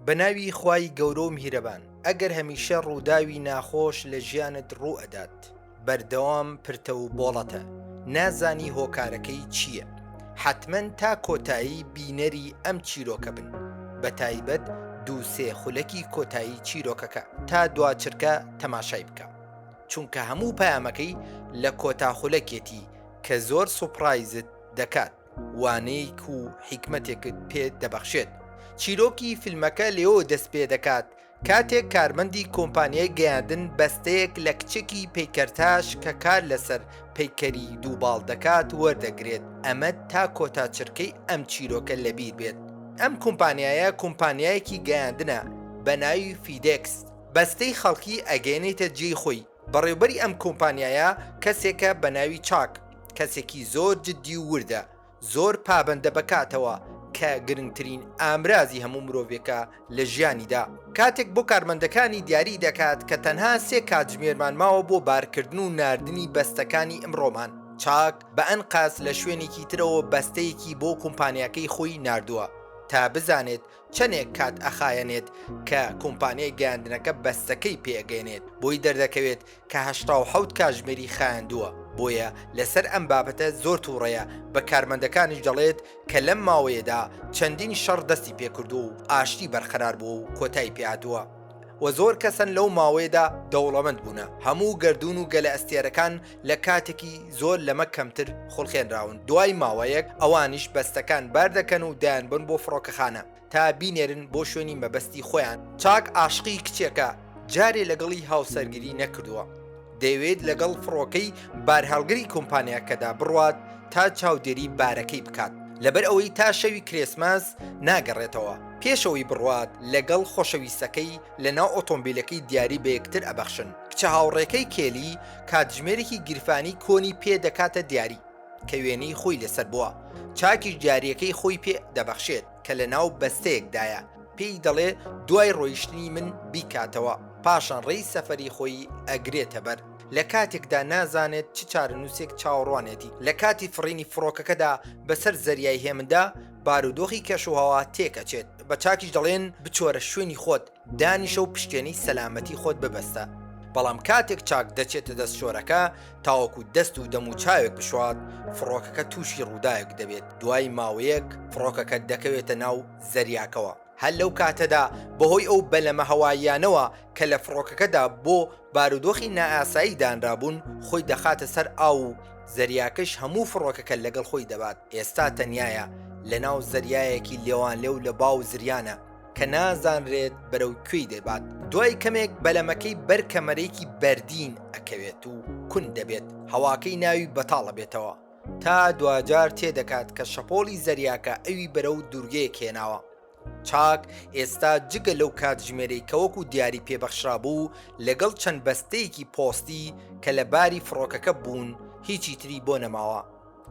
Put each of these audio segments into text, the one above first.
بە ناوی خوای گەورە و میهرەبان. ئەگەر هەمیشە ڕووداوی ناخۆش لە ژیانت ڕوو ئەدات بەردەوام پرتە و بۆڵەتە نازانی هۆکارەکەی چییە حەتمەن تا کۆتایی بینەری ئەم چیرۆکە بن بە تایبەت دوو سێ خولەکی کۆتایی چیرۆکەکە تا دوا چرکە تەماشای بکە چونکە هەموو پامەکەی لە کۆتا خولەکێتی کە زۆر سوپڕایزت دەکات وانەیەک و حیکمەتێکت پێ دەبەخشێت چیرۆکی فیلمەکە لێۆ دەست پێ دەکات کاتێک کارمەندی کۆمپانیای گەیاندن بەستەیەک لە کچێکی پیکەرتاش کە کار لەسەر پیکەری دووباڵ دەکات وەردەگرێت ئەمە تا کۆتا چرکەی ئەم چیرۆکە لەبیر بێت ئەم کۆمپانیایە کۆمپانیایەکی گەیاندنە بە ناوی فیدکس بەستەی خەڵکی ئەگەێنێتە جێی خۆی بەڕێوبەری ئەم کۆمپانیایە کەسێکە بە ناوی چاک، کەسێکی زۆر جدی و وردە، زۆر پابەندە بە کاتەوە کە گرنگترین ئامرازی هەموو مرۆڤێکە لە ژیانیدا. کاتێک بۆ کارمەندەکانی دیاری دەکات کە تەنها سێ کاتژمێرمان ماوە بۆ بارکردن و ناردنی بەستەکانی ئمڕۆمان، چاک بە ئەنقەست لە شوێنێکی ترەوە بەستەیەکی بۆ کۆمپانیاکەی خۆی ناردووە تا بزانێت چەنێک کات ئەخایەنێت کە کومپانیای گەیاندنەکە بەستەکەی پێ ئەگەنێت بۆی دەردەکەوێت کە هەشتا و حەوت کاژمێری خایاندووە بۆیە لەسەر ئەم بابەتە زۆر توڕەیە بە کارمەندەکانیش دەڵێت کە لەم ماوەیەدا چەندین شەڕ دەستی پێکردووە و ئاشتی بەرقەرار بووە و کۆتای پێهاتووە و زۆر کەسن لەو ماوەیەدا دەوڵەمەند بوونە هەموو گەردوون و گەلە ئەستێرەکان لە کاتێکی زۆر لەمە کەمتر خولقێنراون، دوای ماوەیەک ئەوانیش بەستەکان باردەکەن و دەیانبەن بۆ فڕۆکەخانە تا بینێرن بۆ شوێنی مەبەستی خۆیان. چاک ئاشقی کچێکە جارێ لەگەڵی هاوسەرگیری نەکردووە، دەیەوێت لەگەڵ فڕۆکەی بارهەڵگری کۆمپانیاکەدا بڕوات تا چاودێری بارەکەی بکات، لەبەر ئەوەی تا شەوی کرێسماس ناگەڕێتەوە، پێشەوەی بڕوات لەگەڵ خۆشەویستەکەی لەناو ئۆتۆمبیلەکەی دیاری بەیەکتر ئەبەخشن، کچە هاوڕێکەی کێلی، کاتژمێرێکی گیرفانی کۆنی پێ دەکاتە دیاری کە وێنەی خۆی لەسەر بووە چاکیش دیارەکەی خۆی پێ دەبەخشێت کە لە ناو بەستەیەکدایە پێی دەڵێ دوای ڕۆیشتنی من بیکاتەوە پاشان ڕێی سەفەری خۆی ئەگرێتە بەر لە کاتێکدا نازانێت چ چارەنووسێک چاوەڕوانێتی لە کاتی فڕینی فڕۆکەکەدا بەسەر زەریای هێمندا بارودۆخی کەشوهەوا تێکەچێت بە چاکیش دەڵێن بچۆرە شوێنی خۆت دانیشە و پشکێنی سەلامەتی خۆت ببەستە، بەڵام کاتێک چاک دەچێتە دەست شۆرەکە تاوەکو دەست و دەموچاوێک بشوات، فڕۆکەکە تووشی ڕووداوێک دەبێت، دوای ماوەیەک فڕۆکەکە دەکەوێتە ناو زەریاکەوە، هەر لەو کاتەدا بەهۆی ئەو بەلەمە هەواییانەوە کە لە فڕۆکەکەدا بۆ بارودۆخی نائاسایی دانرابوون خۆی دەخاتە سەر ئاو و زەریاکەش هەموو فڕۆکەکە لەگەڵ خۆی دەبات، ئێستا تەنیایە لەناو زەریایەکی لێوانلێو لە باو و زریانە. کە نازانرێت بەرەو کوێی دەبات دوای کەمێک بەلەمەکەی بەر کەمەرێکی بەردین ئەکەوێت و کون دەبێت هەواکەی ناوی بەتاڵە بێتەوە تا دواجار تێدەکات کە شەپۆلی زەریاکە ئەوی بەرەو دوورگەیە کێناوە چاک ئێستا جگە لەو کاتژمێرەی کەوەکو دیاری پێبەخشرا بوو لەگەڵ چەند بەستەیەکی پۆستی کە لە باری فڕۆکەکە بوون هیچی تری بۆ نەماوە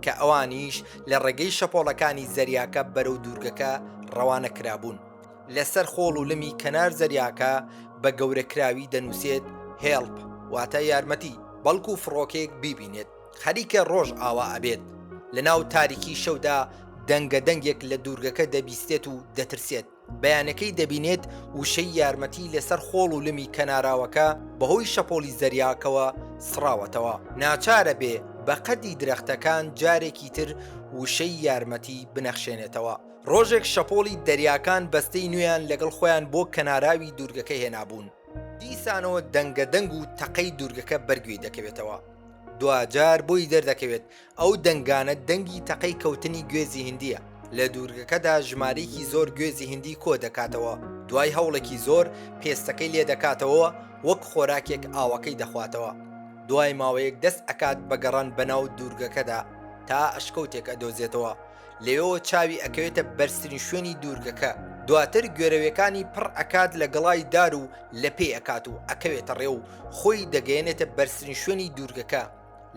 کە ئەوانیش لە ڕێگەی شەپۆڵەکانی زەریاکە بەرەو دوورگەکە ڕەوانە کرابوون لەسەر خۆڵ و لمی کەنار زەریاکە بە گەورەکراوی دەنووسێت هێڵپ واتە یارمەتی بەڵکو فڕۆکەیەک بیبینێت خەریکە ڕۆژ ئاوا ئەبێت لە ناو تاریکی شەودا دەنگە دەنگێک لە دوورگەکە دەبیستێت و دەترسێت بەیانەکەی دەبینێت وشەی یارمەتی لەسەر خۆڵ و لمی کەناراوەکە بەهۆی شەپۆلی زەریاکەوە سڕاوەتەوە ناچارەبێ بە قەدی درەختەکان جارێکی تر وشەی یارمەتی بنەخشێنێتەوە ڕۆژێک شەپۆڵی دەریاکان بەستەی نوێیان لەگەڵ خۆیان بۆ کەناراوی دوورگەکە هێنابوون دیسانەوە دەنگە دەنگ و تەقەی دوورگەکە بەرگوێی دەکەوێتەوە دواجار بۆی دەردەکەوێت ئەو دەنگانە دەنگی تەقەی کەوتنی گوێزی هندییە، لە دوورگەکەدا ژمارەیەکی زۆر گوێزی هندی کۆ دەکاتەوە، دوای هەوڵێکی زۆر پێستەکەی لێ دەکاتەوە و وەک خۆراکێک ئاوەکەی دەخواتەوە، دوای ماوەیەک دەست ئەکات بە گەڕان بەناو دوورگەکەدا تا ئەشکەوتێک ئەدۆزێتەوە لەوێوە چاوی ئەکەوێتە بەرزترین شوێنی دوورگەکە، دواتر گوێرەوێکانی پڕ ئەکات لە گەڵای دار و لەپێی ئەکات و ئەکەوێتە ڕێ و خۆی دەگەیەنێتە بەرزترین شوێنی دوورگەکە.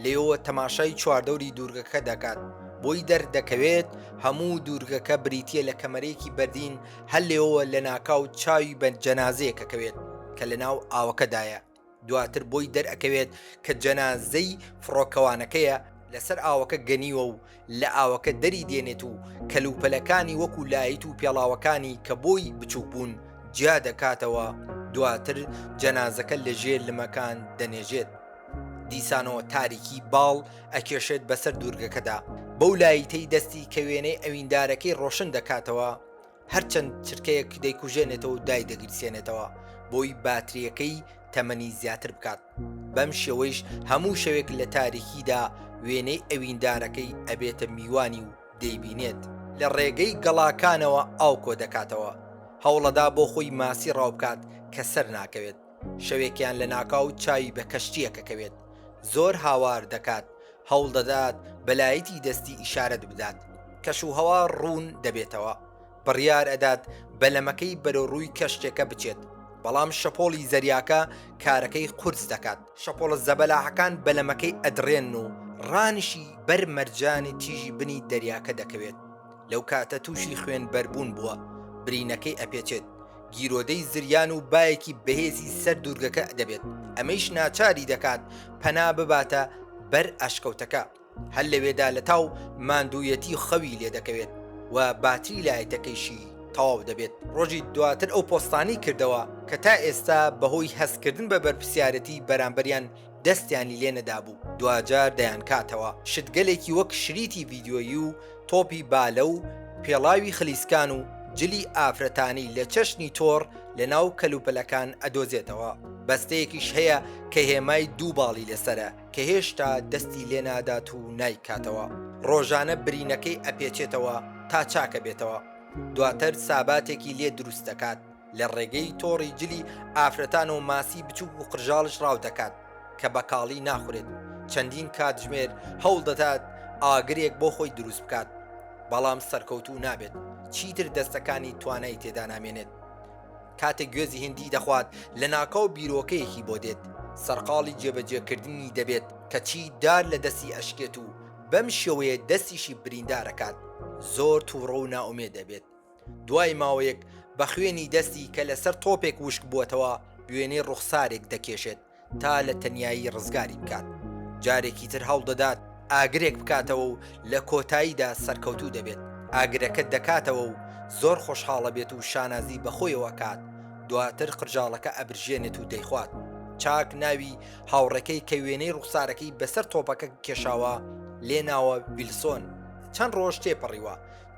لیۆ تەماشای چواردەوری دوورگەکە دەکات بۆی دەردەکەوێت هەموو دوورگەکە بریتە لە کەمەرێکی بەردین هەر لێەوە لە ناکاو چاوی بە جەنازەیەکەکەوێت کە لە ناو ئاوەکەدایە دواتر بۆی دەرەکەوێت کە جەنازەی فڕۆکەوانەکەیە لەسەر ئاوەکە گەنیوە و لە ئاوەکە دەری دێنێت و کەلوپەلەکانی وەکو لایت و پێڵاوەکانی کە بۆی بچوک بوون جیا دەکاتەوە دواتر جەنازەکە لە ژێر لمەکان دەنێژێت دیسانەوە تاریکی باڵ ئەکێشێت بەسەر دوورگەکەدا بەو لایتەی دەستی کە وێنەی ئەویندارەکەی ڕۆشن دەکاتەوە هەرچەند چرکەیەک دەیکوژێنێتەوە و دای دەگیرسێنێتەوە بۆی باتریەکەی تەمەنی زیاتر بکات بەم شێوەیش هەموو شەوێک لە تاریکیدا وێنەی ئەویندارەکەی ئەبێتە میوانی و دەیبینێت لە ڕێگەی گەڵاکانەوە ئاو کۆ دەکاتەوە هەوڵەدا بۆ خۆی ماسی ڕاو بکات کە سەر ناکەوێت شەوێکیان لە ناکاو چاوی بە کەشتیەکە کەوێت زۆر هاوار دەکات هەوڵ دەدات بەلایەتی دەستی ئیشارەت بدات کەش و هەوا ڕوون دەبێتەوە بڕیار ئەدات بەلەمەکەی بەرەو ڕووی کەشتێکە بچێت بەڵام شەپۆڵی زەریاکە کارەکەی قورس دەکات شەپۆڵە زەبەلاحەکان بەلەمەکەی ئەدرێن و ڕانیشی بەر مەرجانی تیژی بنی دەریاکە دەکەوێت لەو کاتە تووشی خوێن بەربوون بووە برینەکەی ئەپێچێت گیرۆدەی زریان و باەکی بەهێزی سەر دوورگەکە دەبێت ئەمەیش ناچاری دەکات پەنا بباتە بەر ئەشکەوتەکە هەر لەوێدا لەتاو ماندوویەتی خەوی لێ دەکەوێت و باتری لایتەکەیشی تەواو دەبێت ڕۆژی دواتر ئەو پۆستانی کردەوە کە تا ئێستا بەهۆی هەستکردن بە بەرپسیارەتی بەرامبەریان دەستیانی لێ نەدابوو دواجار دەیانکاتەوە شتگەلێکی وەک شریتی ڤیدیۆیی و تۆپی بالە و پێڵاوی خلیسکان و جلی ئافرەتانی لە چەشنی تۆڕ لە ناو کەلوپەلەکان ئەدۆزێتەوە بەستەیەکیش هەیە کە هێمای دوو باڵی لەسەرە کە هێشتا دەستی لێ نادات و نایکاتەوە، ڕۆژانە برینەکەی ئەپێچێتەوە تا چاکە بێتەوە، دواتر ساباتێکی لێ دروست دەکات، لە ڕێگەی تۆڕی جلی ئافرەتان و ماسی بچووک و قرژاڵش ڕاو دەکات، کە بە کاڵی ناخورێت، چەندین کاتژمێر هەوڵ دەدات ئاگرێک بۆ خۆی دروست بکات، بەڵام سەرکەوتوو نابێت، چیتر دەستەکانی توانای تێدا نامێنێت، کاتێک گوێزی هندی دەخوات لە ناکاو بیرۆکەیەکی بۆ دێت سەرقاڵی جێبەجێکردنی دەبێت کەچی دار لە دەستی ئەشکێت و بەم شێوەیە دەستیشی بریندارەکات زۆر تووڕە و نائومێ دەبێت دوای ماوەیەک بە خوێنی دەستی کە لەسەر تۆپێک وشک بووەتەوە وێنەی ڕوخسارێک دەکێشێت تا لە تەنیایی ڕزگاری بکات، جارێکی تر هەوڵدەدات ئاگرێک بکاتەوە و لە کۆتاییدا سەرکەوتوو دەبێت، ئاگرەکە دەکاتەوە و زۆر خۆشحاڵەبێت و شانازی بە خۆیەوە ئەکات، دواتر قرژاڵەکە ئەبرژێنێت و دەیخوات، چاک ناوی هاوڕێکەی کە وێنەی ڕوخسارەکەی بەسەر تۆپەکە کێشاوە لێناوە ویلسۆن، چەند ڕۆژ تێپەڕیوە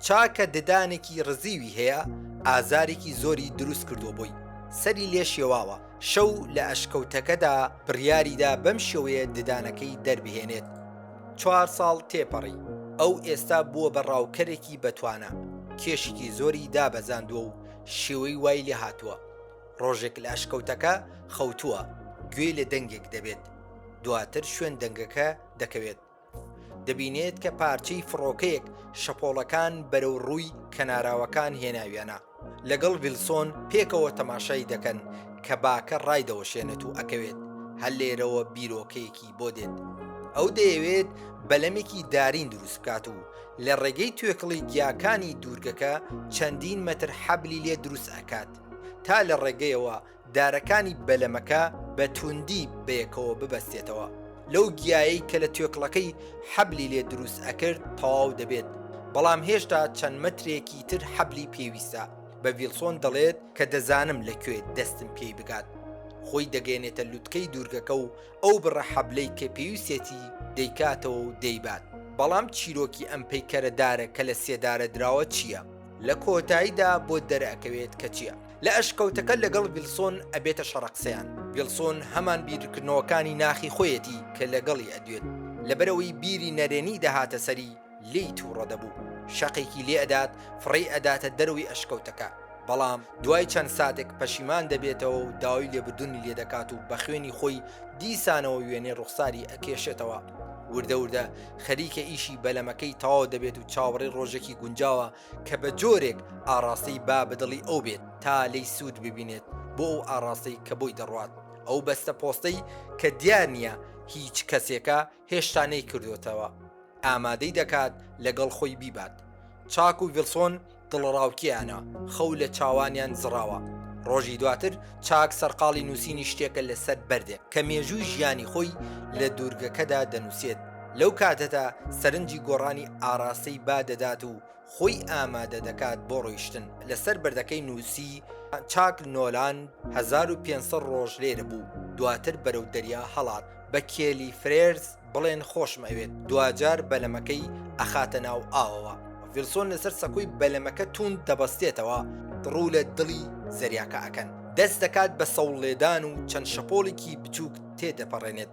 چاکە ددانێکی ڕزیوی هەیە ئازارێکی زۆری دروست کردووە بۆی، سەری لێ شێواوە، شەو لە ئەشکەوتەکەدا بڕیاریدا بەم شێوەیە ددانەکەی دەربهێنێت. چوار ساڵ تێپەڕی، ئەو ئێستا بووە بە ڕاوکەرێکی بەتوانا، کێشێکی زۆری دابەزاندووە و شێوەی وای لێ هاتووە، ڕۆژێک لە ئەشکەوتەکە خەوتووە، گوێی لە دەنگێک دەبێت، دواتر شوێن دەنگەکە دەکەوێت، دەبینێت کە پارچەی فڕۆکەیەک شەپۆڵەکان بەرەو ڕووی کەناراوەکان هێناویانە لەگەڵ ویلسۆن پێکەوە تەماشای دەکەن کە باکە ڕایدەوەشێنێت و ئەکەوێت هەر لێرەوە بیرۆکەیەکی بۆ دێت ئەو دەیەوێت بەلەمێکی دارین دروست بکات و لە ڕێگەی توێکڵی گیاکانی دوورگەکە چەندین مەتر حەبلی لێ دروست ئەکات تا لە ڕێگەیەوە دارەکانی بەلەمەکە بە تووندی بەیەکەوە ببەستێتەوە، لەو گیایەی کە لە توێکڵەکەی حەبلی لێ دروست ئەکرد تەواو دەبێت، بەڵام هێشتا چەند مەترێکی تر حەبلی پێویستە، بە ویڵسۆن دەڵێت کە دەزانم لە کوێ دەستم پێی بگات، خۆی دەگەیەنێتە لوتکەی دوورگەکە و ئەو بڕە حەبلەی کە پێویستێتی دەیکاتەوە و دەیبات. بەڵام چیرۆکی ئەم پەیکەرە دارە کە لە سێدارە دراوە چییە؟ لە کۆتاییدا بۆت دەرئەکەوێت کە چییە. لە ئەشکەوتەکە لەگەڵ ویلسۆن ئەبێتە شەڕە قسەیان ویلسۆن هەمان بیرکردنەوەکانی ناخی خۆیەتی کە لەگەڵی ئەدوێت لەبەرەوەی بیری نەرێنی دەهاتە سەری لی تووڕە دەبوو شەقێکی لێ ئەدات فڕێی ئەداتە دەروی ئەشکەوتەکە بەڵام دوای چەند ساتێک پەشیمان دەبێتەوە و داوای لێبردونی لێ دەکات و بە خوێنی خۆی دیسانەوە وێنێ ڕوخساری ئەکێشێتەوە وردە وردە خەریکە ئیشی بەلەمەکەی تەواو دەبێت و چاوەڕێ ڕۆژێکی گونجاوە کە بە جۆرێک ئاڕاستەی با بە دڵی ئەو بێت تا لێی سوود ببینێت بۆ ئەو ئاڕاستەی کە بۆی دەڕوات، ئەو بەستە پۆستەی کە دیار نییە هیچ کەسێکە هێشتا نەیکردۆتەوە، ئامادەی دەکات لەگەڵ خۆی بیبات. چاک و ڤیڵسۆن دڵەڕاوکێیانە، خەو لە چاوانیان زڕاوە. ڕۆژی دواتر چاک سەرقاڵی نووسینی شتێکە لەسەر بەردێک کە مێژووی ژیانی خۆی لە دوورگەکەدا دەنووسێت لەو کاتەدا سەرنجی گۆڕانی ئاراستەی با دەدات و خۆی ئامادە دەکات بۆ ڕۆیشتن لەسەر بەردەکەی نووسی چاک نۆلان 1500 ڕۆژ لێرە بوو دواتر بەرەو دەریا هەڵات بە کێلی فرێرز بڵێن خۆشم ئەوێت دواجار بەلەمەکەی ئەخاتە ناو ئاوەوە ڤیلسۆن لەسەر سەکوی بەلەمەکە توند دەبەستێتەوە ڕوو لە دڵی زەریاکە ئەکەن دەست دەکات بە سەوڵ لێدان و چەند شەپۆڵێکی بچووک تێدەپەڕێنێت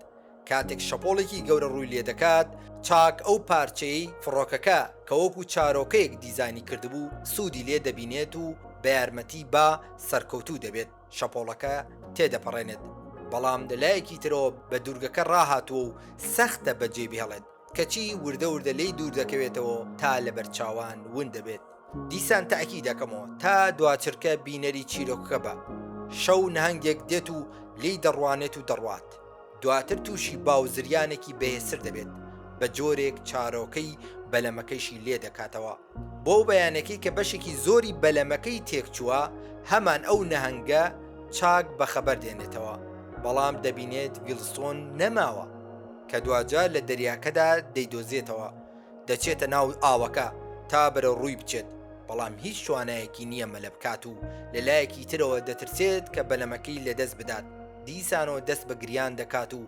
کاتێک شەپۆڵێکی گەورە ڕووی لێ دەکات چاک ئەو پارچەی فڕۆکەکە کە وەکو چارۆکەیەک دیزانی کردبوو سوودی لێ دەبینێت و بە یارمەتی با سەرکەوتوو دەبێت شەپۆڵەکە تێدەپەڕێنێت، بەڵام لە لایەکی ترەوە بە دوورگەکە ڕاهاتووە و سەختە بەجێبهێڵێت، کەچی وردە وردە لێی دوور دەکەوێتەوە تا لەبەر چاوان ون دەبێت. دیسان تاکی دەکەمەوە تا دواچرکە بینەری چیرۆکەکە بە. شەو نەهەنگێک دێت و لێی دەڕوانێت و دەڕوات. دواتر تووشی با و زریانێکی بەهێزتر دەبێت بە جۆرێک چارۆکەی بەلەمەکەیشی لێ دەکاتەوە بۆ و بەیانەکەی کە بەشێکی زۆری بەلەمەکەی تێکچووە هەمان ئەو نەهەنگە چاک بەخەبەر دێنێتەوە بەڵام دەبینێت ویلسۆن نەماوە کە دواجار لە دەریاکەدا دەیدۆزێتەوە دەچێتە ناو ئاوەکە تا بەرە ڕووی بچێت بەڵام هیچ توانایەکی نییە مەلە بکات و لە لایەکی ترەوە دەترسێت کە بەلەمەکەی لەدەست بدات دیسانەوە دەست بە گریان دەکات و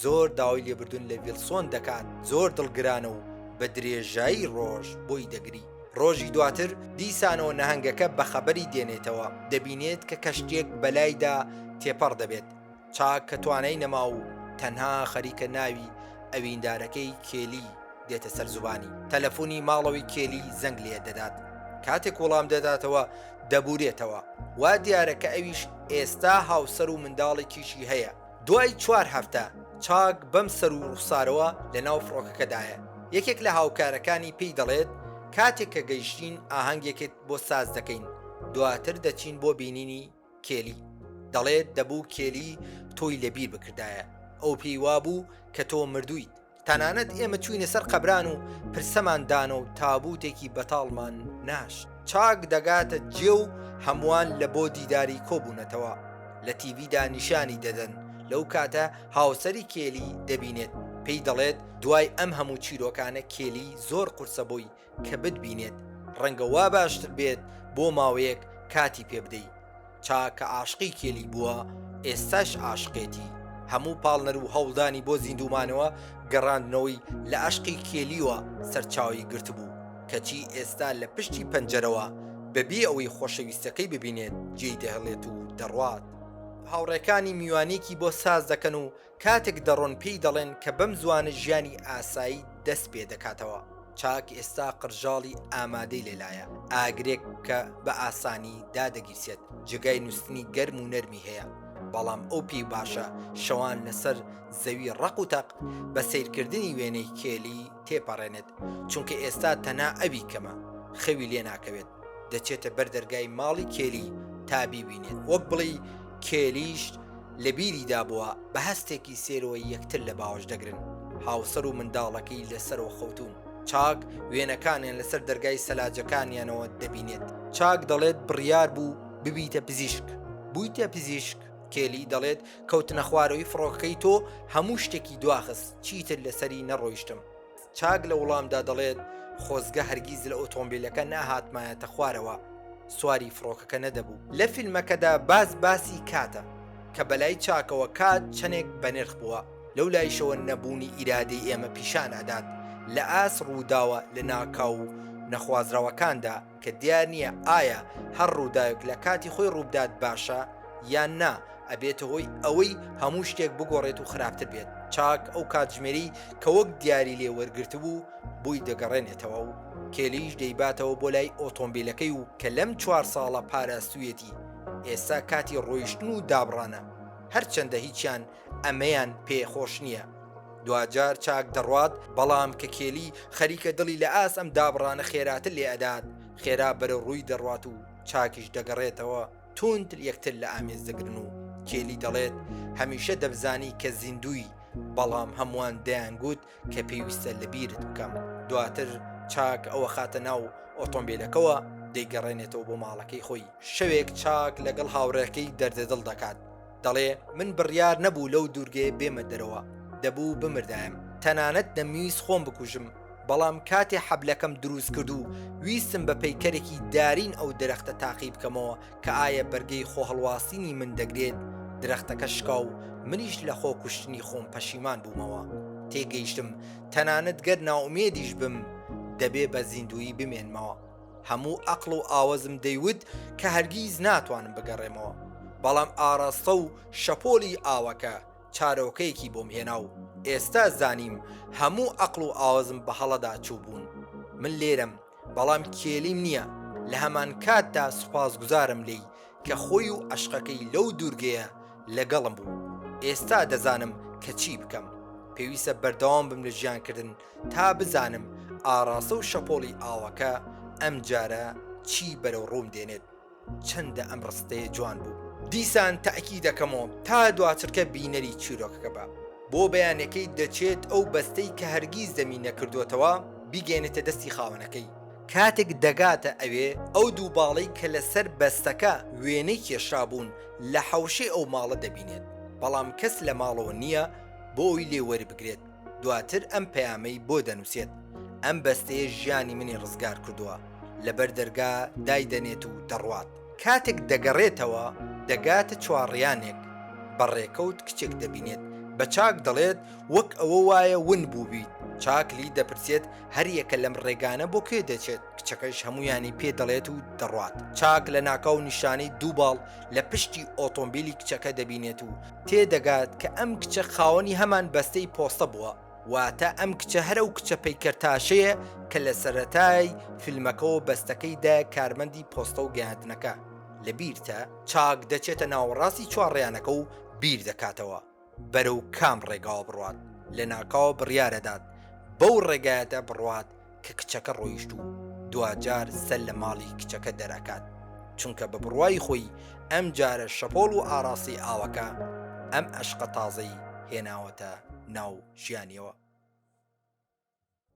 زۆر داوای لێبردون لە ویلسۆن دەکات زۆر دڵگرانە و بە درێژایی ڕۆژ بۆی دەگری ڕۆژی دواتر دیسانەوە نەهەنگەکە بە خەبەری دێنێتەوە دەبینێت کە کەشتێک بەلایدا تێپەڕ دەبێت چاک کە توانای نەما و تەنها خەریکە ناوی ئەویندارەکەی کێلی دێتە سەر زبانی تەلەفۆنی ماڵەوەی کێلی زەنگ لێ دەدات کاتێک وەڵام دەداتەوە دەبورێتەوە، وا دیارە کە ئەویش ئێستا هاوسەر و منداڵێکیشی هەیە. دوای چوار هەفتە، چاک بەم سەر و ڕوخسارەوە لە ناو فڕۆکەکەدایە. یەکێک لە هاوکارەکانی پێی دەڵێت، کاتێک کە گەیشتین ئاهەنگێکت بۆ ساز دەکەین، دواتر دەچین بۆ بینینی کێلی. دەڵێت، دەبوو کێلی تۆی لەبیر بکردایە، ئەو پێی وابوو کە تۆ مردوویت. تەنانەت ئێمە چووینە سەر قەبران و پرسەمان دانە و تابووتێکی بەتاڵمان ناشت. چاک دەگاتە جێ و هەمووان لە بۆ دیداری کۆبوونەتەوە. لە تیڤیدا نیشانی دەدەن. لەو کاتە هاوسەری کێلی دەبینێت. پێی دەڵێت دوای ئەم هەموو چیرۆکانە کێلی زۆر قورسە بۆی کە بتبینێت ڕەنگە وا باشتر بێت بۆ ماوەیەک کاتی پێ بدەی چاکە عاشقی کێلی بووە ئێستاش عاشقێتی هەموو پاڵنەر و هەوڵدانی بۆ زیندومانەوە گەڕاندنەوەی لە عشقی کێلیوە سەرچاوی گرتبوو کەچی ئێستا لە پشتی پەنجەرەوە بەبێ ئەوەی خۆشەویستەکەی ببینێت جێی دەهڵێت و دەڕوات هاوڕێکانی میوانێکی بۆ ساز دەکەن و کاتێک دەڕۆن پێی دەڵێن کە بەم زووانە ژیانی ئاسایی دەست پێ دەکاتەوە، چاک ئێستا قرژاڵی ئامادەی لێ لایە، ئاگرێک کە بە ئاسانی دادەگیرسێت، جێگای نووستنی گەرم و نەرمی هەیە، بەڵام ئەو پێی باشە شەوان لەسەر زەوی ڕەق و تەق بە سەیرکردنی وێنەی کێلی تێپەڕێنێت، چونکە ئێستا تەنها ئەوی کەمە، خەوی لێ ناکەوێت، دەچێتە بەر دەرگای ماڵی کێلی تا بیبینێت، وەک بڵێی کێلیش. لە بیری دابووە بە هەستێکی سێرۆی یەکتر لە باوەش دەگرن. هاوسەر و منداڵەکەی لە سەرۆ خەوتوون. چاک وێنەکانیان لە سەر دەرگای سەلاجەکانیانەوە دەبینێت. چاک دەڵێت بڕیار بوو ببیتە پزیشک. بوویتە پزیشک؟ کێلی دەڵێت کەوتنەخوارەوەی فڕۆکەکەی تۆ هەموو شتێکی دواخست، چیتر لە سەری نەڕۆیشتم. چاک لە وڵامدا دەڵێت، خۆزگە هەرگیز لە ئۆتۆمبیلەکە نەهاتمایەتە خوارەوە، سواری فڕۆکەکە نەدەبوو. لە فیلمەکەدا باس باسی کاتە، کە بەلای چاکەوە کات چەندێک بەنرخ بووە، لەو لایشەوە نەبوونی ئیرادەی ئێمە پیشان ئەدات لە ئاست ڕووداوە لەناکاو و نەخوازراوەکاندا، کە دیار نییە ئایا هەر ڕووداوێک لە کاتی خۆی ڕووبدات باشە یان نا، ئەبێتە هۆی ئەوەی هەموو شتێک بگۆڕێت و خراپتر بێت، چاک ئەو کاتژمێرەی کە وەک دیاری لێ وەرگرتبوو بۆی دەگەڕێنێتەوە و کێلییش دەیباتەوە بۆ لای ئۆتۆمبیلەکەی و کە لەم چوار ساڵە پاراستوویەتی، ئێستا کاتی ڕۆیشتن و دابڕانە، هەرچەندە هیچیان ئەمەیان پێ خۆش نییە. دواجار چاک دەڕوات بەڵام کە کێلی خەریکە دڵی لە ئاست ئەم دابڕانە خێراتر لێ ئەدات خێرا بەرەو ڕووی دەڕوات و چاکیش دەگەڕێتەوە توند یەکتر لە ئامێز دەگرن و کێلی دەڵێت هەمیشە دەبزانی کە زیندووی بەڵام هەمووان دەیانگووت کە پێویستە لە بیرت بکەم دواتر چاک ئەوە خاتە ناو ئۆتۆمبیلەکەەوە دەیگەڕێنێتەوە بۆ ماڵەکەی خۆی شەوێک چاک لەگەڵ هاوڕێکەی دەردەدڵ دەکات دەڵێ من بڕیار نەبوو لەو دوورگەیە بێمە دەرەوە، دەبوو بمردایم، تەنانەت دەمویست خۆم بکوژم، بەڵام کاتێ حەبلەکەم دروست کرد و ویستم بە پەیکەرێکی دارین ئەو درەختە تاقی بکەمەوە کە ئایا بەرگەی خۆهەڵواسینی من دەگرێت، درەختەکە شکا و منیش لە خۆ کوشتنی خۆم پەشیمان بوومەوە. تێگەیشتم تەنانەت گەر نائومێدیش بم، دەبێ بە زیندوویی بمێنمەوە. هەموو ئەقڵ و ئاوەزم دەیوت کە هەرگیز ناتوانم بگەڕێمەوە، بەڵام ئاراستە و شەپۆلی ئاوەکە چارۆکەیەکی بۆم هێنا و ئێستا زانیم هەموو ئەقڵ و ئاوەزم بە هەڵەدا چووبوون. من لێرەم، بەڵام کێلیم نییە، لە هەمانکاتدا سوپاسگوزارم لێی کە خۆی و عەشقەکەی لەو دوورگەیە لەگەڵم بوو. ئێستا دەزانم کە چی بکەم. پێویستە بەردەوام بم لە ژیانکردن، تا بزانم ئاڕاسە و شەپۆڵی ئاوەکە ئەمجارە چی بەرەو ڕووم دێنێت. چەندە ئەم ڕستەیە جوان بوو. دیسان تەئکی دەکەمەوە تا دواچرکە بینەری چیرۆکەکە بە بۆ بەیانەکەی دەچێت ئەو بەستەی کە هەرگیز دەمی نەکردۆتەوە بیگەیەنێتە دەستی خاوەنەکەی. کاتێک دەگاتە ئەوێ ئەو دوو باڵەی کە لە سەر بەستەکە وێنەی کێشرابوون لە حەوشەی ئەو ماڵە دەبینێت بەڵام کەس لە ماڵەوە نییە بۆ ئەوی لێ وەربگرێت. دواتر ئەم پەیامەی بۆ دەنووسێت ئەم بەستەیە ژیانی منی ڕزگار کردووە لەبەر دەرگا دایدەنێت و دەڕوات. کاتێک دەگەڕێتەوە دەگاتە چواڕیانێک بە ڕێکەوت کچێک دەبینێت بە چاک دەڵێت وەک ئەوە وایە ون بووبیت، چاک لی دەپرسێت هەریەکە لەم ڕێگانە بۆ کوێ دەچێت کچەکەش هەمویانی پێ دەڵێت و دەڕوات چاک لە ناکاو نیشانەی دوو باڵ لە پشتی ئۆتۆمبیلی کچەکە دەبینێت و تێ دەگات کە ئەم کچە خاوەنی هەمان بەستەی پۆستە بووە، واتە ئەم کچە هەر ئەو کچە پەیکەرتاشەیە کە لە سەرەتای فیلمەکەوە بەستەکەی دایە کارمەندی پۆستە و گەیاندنەکە، لەبیرتە؟ چاک دەچێتە ناوەڕاستی چوارڕیانەکە و بیر دەکاتەوە بەرەو کام ڕێگاوە بڕوات، لەناکاوە بڕیارەدات بەو ڕێگایەدا بڕوات کە کچەکە ڕۆیشت و دواجار سەر لە ماڵی کچەکە دەرەکات چونکە بە بڕوای خۆی ئەم جارە شەپۆڵ و ئاراسی ئاوەکە ئەم ئەشقە تازەی هێناوەتە ناو ژیانیەوە.